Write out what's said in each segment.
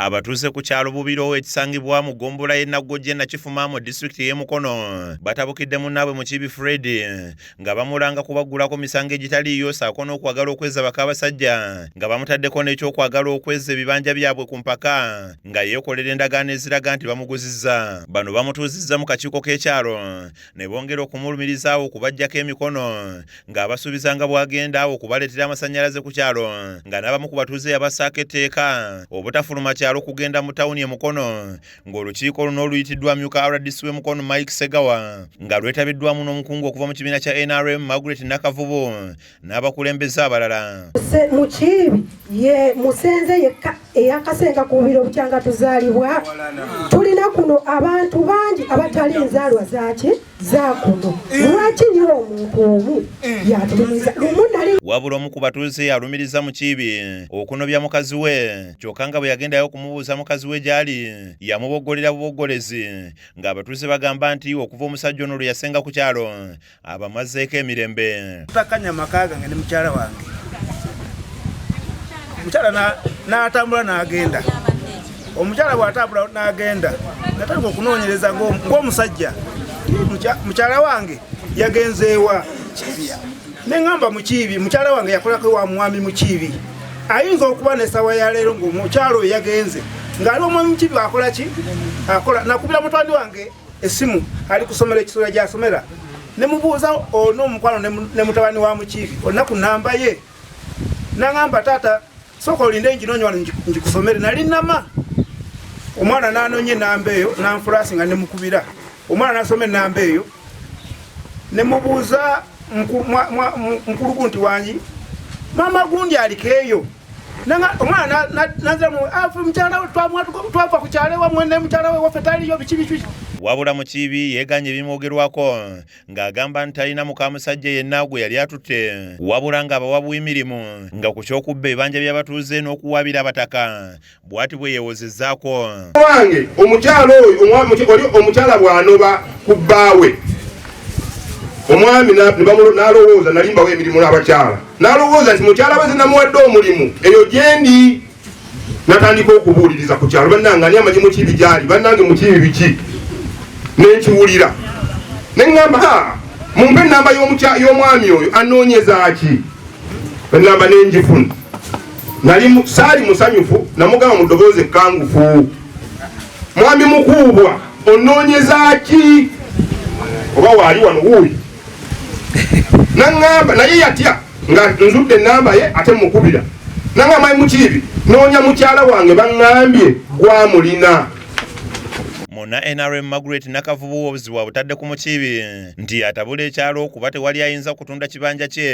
Abatuuze ku kyalo Bubirowo ekisangibwa mu ggombolola y'e Naggojje Nakifuma mu disitulikiti y'e Mukono batabukidde munnaabwe Mukiibi Fred nga bamulanga kubaggulako misango egitaliiyo saako n'okwagala okwezza bakabasajja nga bamutaddeko n'ekyokwagala okwezza ebibanja byabwe ku mpaka nga yeekolera endagaano eziraga nti bamuguzizza. Bano bamutuuzizza mu kakiiko k'ekyalo ne bongera okumulumiriza awo okubaggyako emikono ng'abasuubiza nga bw'agenda awo okubaleetera amasannyalaze ku kyalo nga n'abamu ku batuuze yabassaako etteeka obutafuluma kyalo kugenda mu tawuni e Mukono ng'olukiiko luno oluyitiddwa amyuka rdc w'e Mukono Mike Segawa nga lwetabiddwamu n'omukungu okuva mu kibiina kya NRM Margaret Nakavubu n'abakulembeze abalala Mukiibi ye musenze yekka eyakasenga ku bubiro bukyanga tuzaalibwa tulina kuno abantu bangi abatali nzaalwa zaaki zakuno lwaki nyo omuntu omu eh. yatulumiza lumunali wabula omu ku batuuze alumiriza mukiibi okunobya mukazi we kyokka nga bwe yagendayo okumubuuza mukazi we gy'ali yamuboggolera buboggolezi ng'abatuuze bagamba nti okuva omusajja ono lwe yasenga ku kyalo abamazeeko emirembe tutakanya maka gange ne mukyala wange mukyala n'atambula n'agenda omukyala bw'atambula n'agenda natandika okunoonyereza ng'omusajja mukyala wange yagenzeewa neŋamba mukiibi mukyala wange yakolako wa mwami mukiibi ayinza okuba nesawa yaleero ngaomukyala oyo yagenze ngaali omwami mukiibi akola ki akola nakubira mutwandi wange esimu ali kusomera ekisula gyasomera nemubuuza ono omukwano ne mutabani wa mukiibi olina ku namba ye naŋamba taata Sooka olinde nginoonya wano ngikusomere. Nali nama omwana n'anoonya ennamba eyo n'anfulaasi nga nemukubira omwana n'asoma ennamba eyo ne mubuuza mukuluku nti wangi maama gundi aliko eyo omwana naziramu ah, mukyalawe twava ku kyalo ewamwe ne mukyalawe waffe taliyo biki biki wabula mukiibi yeeganye ebimwogerwako ng'agamba nti talina mukamusajja yenna gwe yali atutte wabula ng'abawa bw'emirimu nga ku ky'okubba ebanja by'abatuuze n'okuwaabira abataka bw'ati bwe yeewozezaako wange omukyala oyo omukyala bw'anoba ku bbaawe omwami n'alowooza nalimbawo emirimu n'abakyala n'alowooza nti mukyala we zinamuwadde omulimu eyo gyendi natandika okubuuliriza ku kyalo bannange ani amanyi mukiibi gyali bannange mukiibi biki nenkiwulira neŋamba ha mumpe enamba y'omwami oyo anoonyezaki enamba nenjifuna nali saali musanyufu namugamba mu ddoboozi ekkangufu mwami mukuubwa onoonyezaki oba waali wano wuuyi naŋŋamba naye yatya nga nzudde enamba ye ate mukubira nanga mayi mukiibi noonya mukyala wange baŋŋambye gwamulina muna nrm margaret nakavubu obuzibu abutadde ku mukiibi nti atabula ekyalo kuba tewali ayinza kutunda kibanja kye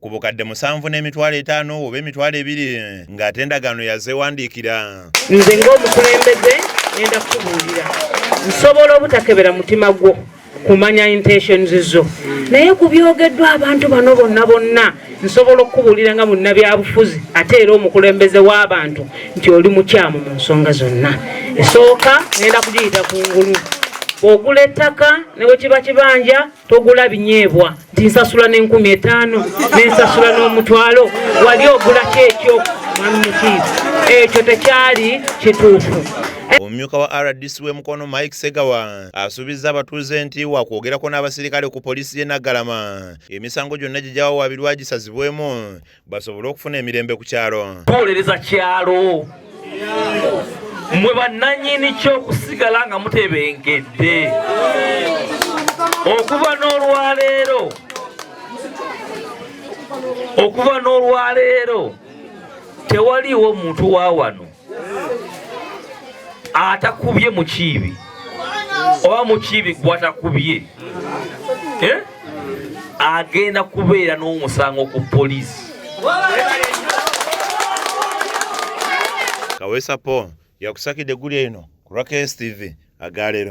ku bukadde musanvu n'emitwalo etaano oba emitwalo ebiri ng'ate endagaano yazeewandiikira nze ng'omukulembeze ngenda kukubuulira nsobola obutakebera mutima gwo kumanya intentions zo naye ku byogeddwa abantu bano bonna bonna nsobola okukubulira nga munnabyabufuzi ate era omukulembeze w'abantu nti oli mukyamu mu nsonga zonna esooka nenda kugiyita ku ngulu ogula ettaka ne bwe kiba kibanja togula binyeebwa nti nsasula n'enkumi etaano nensasula n'omutwalo wali ogulako ekyo mwami mukiizi ekyo tekyali kituufu omumyuka wa rdc w'e mukono mike segawa asuubizza abatuuze nti wakwogerako n'abasirikale ku poliisi y'e Naggalama emisango gyonna gye gyawawaabirwa gisazibwemu basobole okufuna emirembe ku kyalo tuwolereza kyalo mwe bannanyini ky'okusigala nga mutebengedde okuva n'olwaleero okuva n'olwaleero tewaliiwo muntu wa wano atakubye mukiibi oba mukiibi gwatakubye eh? agenda kubeera n'omusango ku poliisi kaweesa paul yakusakidde eggulu eno ku raks tv agaleero